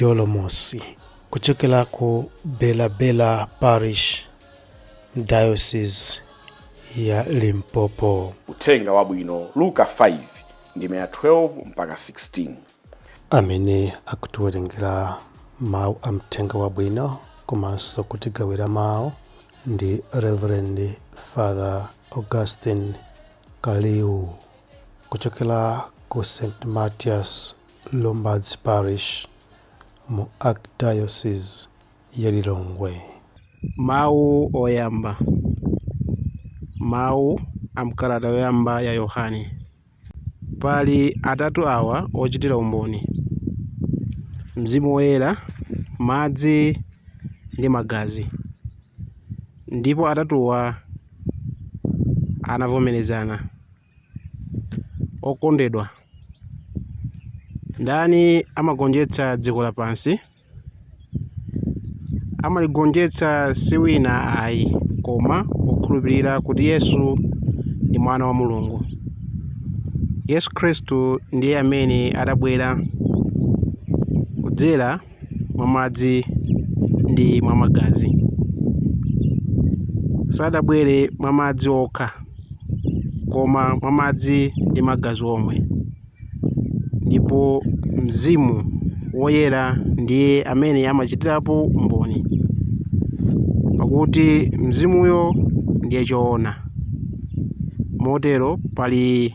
Jolomosi kuchokera ku Belabela Parish Diocese ya Limpopo. Uthenga Wabwino, Luka 5 ndime ya 12 mpaka 16. amene akutiwerengera mawu a mthenga wabwino komanso kutigawira mawu ndi reverend father augustine kaliu kuchokera ku st matias Lumbadzi Parish mu Archdiocese ya Lilongwe. Mawu Oyamba Mawu a m'kalata yoyamba ya Yohane Pali atatu awa ochitira umboni, Mzimu Woyera, madzi ndi magazi, ndipo atatuwa anavomerezana. Okondedwa, ndani amagonjetsa dziko lapansi? Amaligonjetsa si wina ayi koma wokhulupirira kuti Yesu ndi Mwana wa Mulungu. Yesu Khristu ndiye amene adabwera kudzera mwa madzi ndi mwa magazi sadabwere mwa madzi okha koma mwa madzi ndi magazi omwe ndipo mzimu woyera ndiye amene amachitirapo umboni pakuti mzimuyo ndiye choona motero pali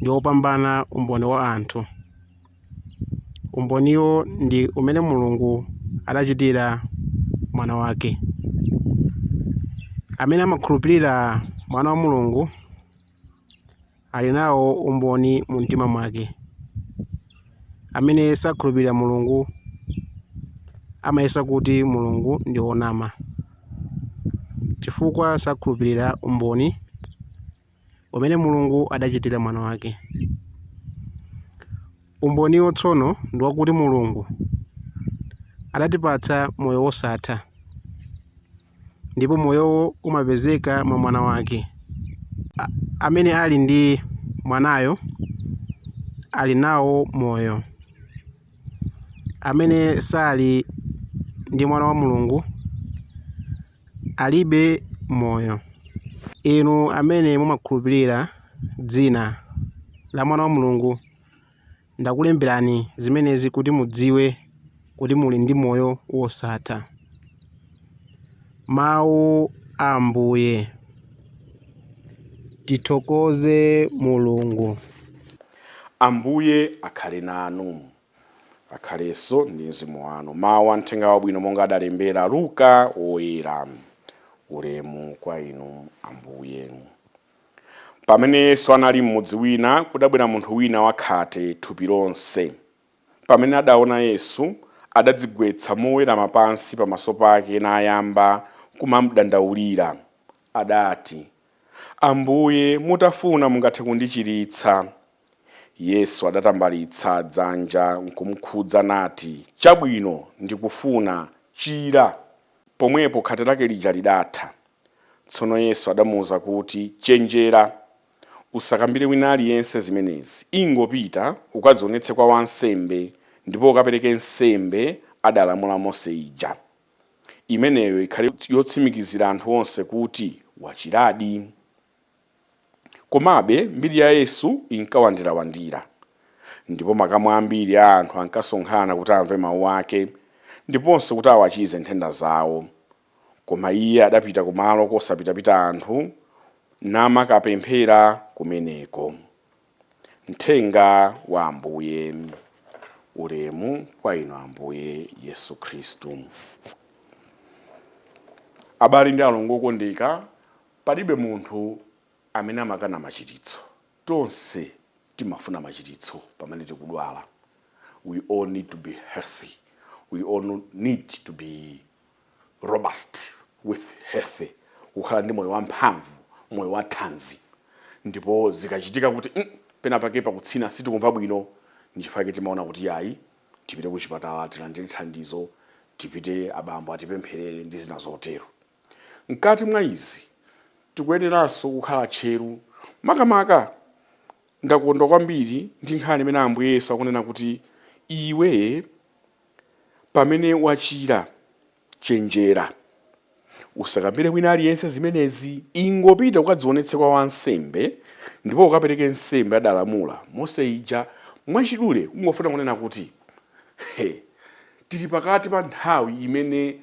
ndi wopambana umboni wa anthu. Umboniwo ndi umene Mulungu adachitira Mwana wake. Amene amakhulupirira Mwana wa Mulungu ali nawo umboni mu mtima mwake. Amene sakhulupirira Mulungu amayesa kuti Mulungu ndi wonama, chifukwa sakhulupirira umboni umene Mulungu adachitira Mwana wake. Umboniwo tsono ndi wakuti Mulungu adatipatsa moyo wosatha, ndipo moyowo umapezeka mwa Mwana wake. Amene ali ndi Mwanayo ali nawo moyo. Amene sali ndi Mwana wa Mulungu alibe moyo. Inu amene mumakhulupirira Dzina la Mwana wa Mulungu, ndakulemberani zimenezi kuti mudziwe kuti muli ndi moyo wosatha. Mawu a Ambuye. Tithokoze Mulungu. Ambuye akhale nanu. Akhalenso ndi mzimu wanu. Mawu a Mthenga Wabwino monga adalembera Luka Woyera. Ulemu kwa Inu Ambuye. Pamene Yesu anali m'mudzi wina, kudabwera munthu wina wakhate thupi lonse. Pamene adaona Yesu, adadzigwetsa mowerama pansi pamaso pake nayamba kumamdandaulira. Adati, Ambuye, mutafuna mungathe kundichiritsa. Yesu adatambalitsa dzanja nkumkhudza nati, Chabwino, ndikufuna, chira! Pomwepo khate lake lija lidatha. Tsono Yesu adamuuza kuti, Chenjera! Usakambire wina aliyense zimenezi. Ingopita, ukadziwonetse kwa wansembe, ndipo ukapereke nsembe adalamula Mose ija. Imeneyo ikhale yotsimikizira anthu onse kuti wachiradi. Komabe, mbiri ya Yesu inkawandirawandira, ndipo makamu ambiri a anthu ankasonkhana kuti amve mawu ake ndiponso kuti awachize nthenda zawo. Koma iye adapita kumalo kosapitapita anthu, namakapemphera kumeneko. Mthenga wa Ambuye. Ulemu kwa Inu Ambuye Yesu Khristu. Abale ndi alongo okondeka, Palibe munthu amene amakana machiritso. Tonse timafuna machiritso pamene tikudwala. We all need to be healthy. We all need to be robust with healthy. Kukhala ndi moyo wamphamvu, moyo wa thanzi. Ndipo zikachitika kuti pena pake pakutsina sitikumva bwino, nchifukwa chake timaona kuti yayi tipite kuchipatala tilandire thandizo, tipite abambo atipempherere ndi zina zotero. Mkati mwa izi, tikuyeneranso kukhala tcheru. Makamaka, ndakondwa kwambiri ndi nkhani imene Ambuye Yesu akunena kuti, Iwe, pamene wachira, chenjera. Usakambire wina aliyense zimenezi. Ingopita ukadzionetse kwa wansembe, ndipo ukapereke nsembe adalamula Mose ija. Mwachidule ungofuna kunena kuti tili pakati pa nthawi imene.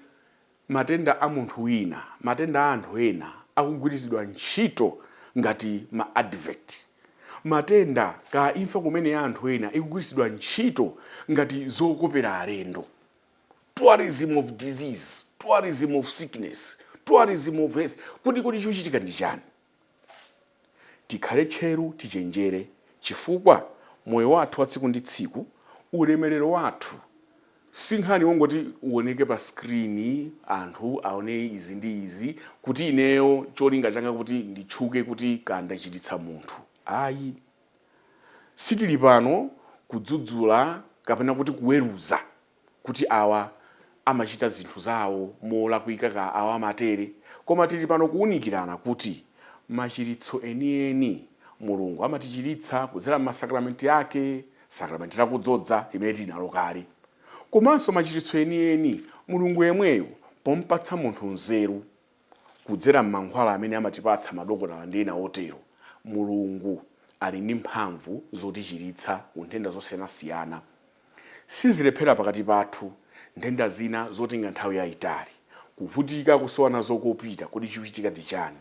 matenda a munthu wina, matenda a anthu ena akugwiritsidwa ntchito ngati ma advert. Matenda kaya imfa kumene ya anthu ena ikugwiritsidwa ntchito ngati zokopera alendo. Tourism of disease, tourism of sickness, tourism of health. Kodi kodi chikuchitika ndi chani? Tikhale tcheru, tichenjere, chifukwa moyo wathu wa tsiku ndi tsiku, ulemerero wathu, si nkhani yongoti uoneke pa screen, anthu aone izi ndi izi, kuti ineyo cholinga changa kuti nditchuke kuti kaya ndachiritsa munthu. Ayi. Sitili pano kudzudzula kapena kuti kuweruza. kuti awa amachita zinthu zawo molakwika kaya awa amatere koma tili pano kuunikirana kuti machiritso enieni Mulungu amatichiritsa kudzera m'masakramenti ake sakramenti la kudzodza limene tili nalo kale komanso machiritso enieni Mulungu yemweyo pompatsa munthu nzeru kudzera m'mankhwala amene amatipatsa madokotala ndi ena otero, Mulungu ali ndi mphamvu zotichiritsa ku nthenda zosiyanasiyana. Sizilephera pakati pathu, nthenda zina zotenga nthawi yaitali, kuvutika kusowa nazo kopita. Kodi chikuchitika ndi chani?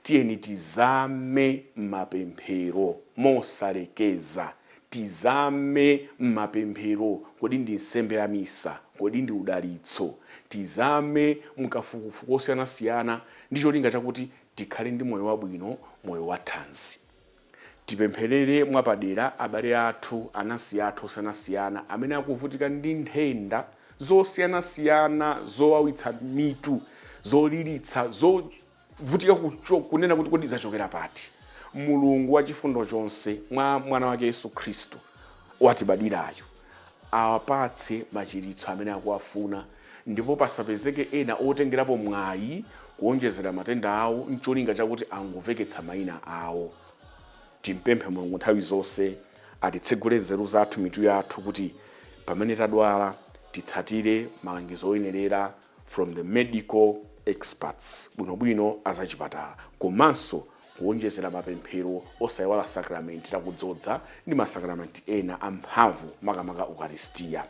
Tiyeni tizame m'mapemphero mosalekeza. Tizame m'mapemphero, kodi ndi nsembe ya misa, kodi ndi udalitso? Tizame mukafukufuku wosiyanasiyana ndi cholinga chakuti tikhale ndi moyo wabwino, moyo wa thanzi. Tipempherere mwapadera abale athu, anansi athu osiyanasiyana amene akuvutika ndi nthenda zosiyanasiyana zowawitsa mitu, zoliritsa, zo. Vutika kunena kuti kodi zachokera pati? Mulungu wachifundo chonse mwa mwana wake Yesu Khristu watibadwirayo awapatse machiritso amene akuwafuna ndipo pasapezeke ena otengerapo mwayi kuonjezera matenda awo ncholinga chakuti angomveketsa maina awo. Timupemphe Mulungu nthawi zonse atitsegule nzeru zathu, mitu yathu kuti pamene tadwala titsatire malangizo oyenerera. from the medical experts bwinobwino a zachipatala komanso kuwonjezera mapemphero osaiwala sakramenti la kudzodza ndi masakramenti ena amphamvu makamaka ukaristia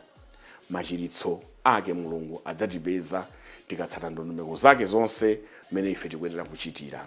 machiritso ake mulungu adzatipeza tikatsata ndondomeko zake zonse mmene ife tikuyenera kuchitira